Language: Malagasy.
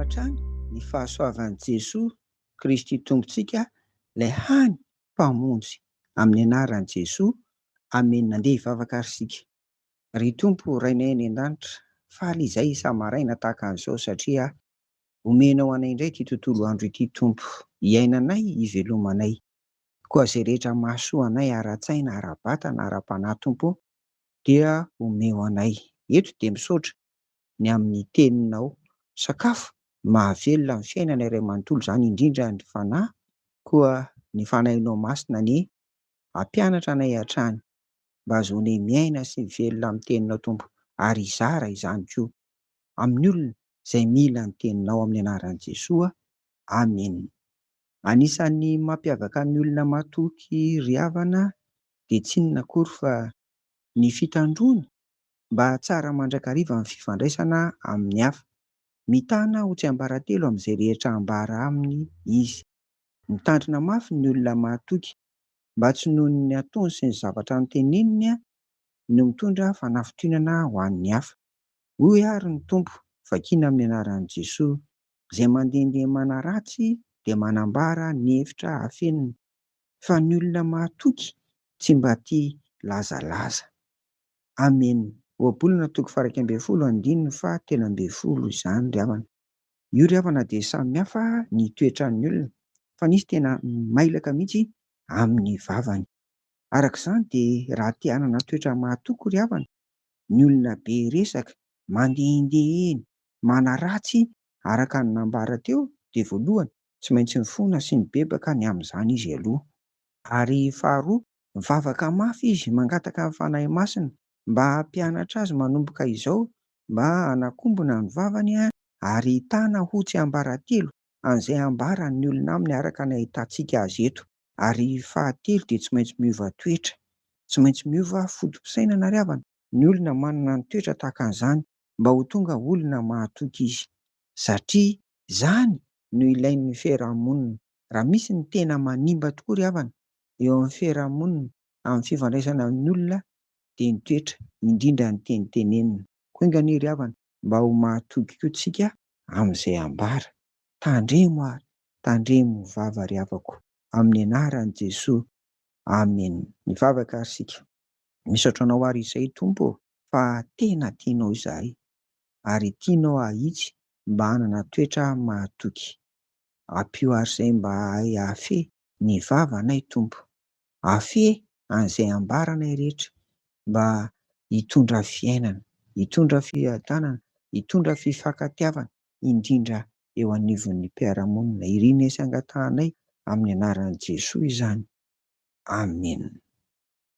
hatrany ny fahasoavan'i Jesoa Kristy Tompontsika ilay hany Mpamonjy amin'ny anaran'i Jesoa Amen Andeha hivavaka ary isika Ry Tompo Rainay any an-danitra faly izay isa-maraina tahaka an'izao satria omenao anay indray ity tontolo andro ity Tompo hiainanay hivelomanay Koa izay rehetra mahasoa anay ara-tsaina, ara-batana, ara-panahy Tompo o, dia omeo anay. Eto dia misaotra ny amin'ny teninao. Sakafo mahavelona ny fiainana iray manontolo izany indrindra ny Fanahy, koa ny Fanahinao Masina anie hampianatra anay hatrany mba hahazoanay miaina sy mivelona amin'ny teninao Tompo, ary hizara izany koa amin'ny olona izay mila ny teninao amin'ny anaran'i Jesoa, Amena. Anisan'ny mampiavaka ny olona matoky ry havana dia tsy inona akory fa ny fitandroany mba hahatsara mandrakariva ny fifandraisana amin'ny hafa. Mitana ho tsiambaratelo amin'izay rehetra ambara aminy izy. Mitandrina mafy ny olona mahatoky, mba tsy noho ny ataony sy ny zavatra noteneniny no mitondra fanafitohinana ho an'ny hafa. Hoy àry ny Tompo, vakina amin'ny anaran'i Jesoa, Izay mandehandeha manaratsy dia manambara ny hevitra afeniny, fa ny olona mahatoky tsy mba tia lazalaza. Amen. Ohabolana toko faha iraika ambin'ny folo andininy faha telo ambin'ny folo izany ry havana. Io ry havana dia samy hafa ny toetran'ny olona, fa nisy tena mailaka mihitsy amin'ny vavany. Araka izany dia raha te hanana toetra mahatoky ry havana, ny olona be resaka, mandehandeha eny, manaratsy araka ny nambara teo dia voalohany tsy maintsy mifona sy mibebaka ny amin'izany izy aloha. Ary faharoa mivavaka mafy izy mangataka ny Fanahy Masina mba hampianatra azy manomboka izao mba hanakombona ny vavany ary hitana ho tsiambaratelo an'izay ambaran'ny olona aminy araka ny ahitantsika azy eto. Ary fahatelo dia tsy maintsy miova toetra. Tsy maintsy miova foto-pisainana ry havana ny olona manana ny toetra tahaka an'izany mba ho tonga olona mahatoky izy satria izany no ilain'ny fiarahamonina. Raha misy ny tena manimba tokoa ry havana eo amin'ny fiarahamonina amin'ny fifandraisana amin'ny olona dia ny toetra indrindra ny teny tenenina. Koa enga anie ry havana mba ho mahatoky koa tsika amin'izay ambara. Tandremo ary tandremo vava ry havako amin'ny anaran'i Jesoa Amen. Mivavaka ary isika. Misaotra anao ary izay Tompo ô. fa tena tianao izahay ary tianao hahitsy mba hanana toetra mahatoky. Ampio àry izay mba hahay hahafehy ny vavanay, Tompo. Afehy an'izay ambaranay rehetra mba hitondra fiainana, hitondra fiadanana, hitondra fifankatiavana, indrindra eo anivon'ny mpiara-monina. Irinay sy angatahanay amin'ny anaran'i Jesoa izany. Amena.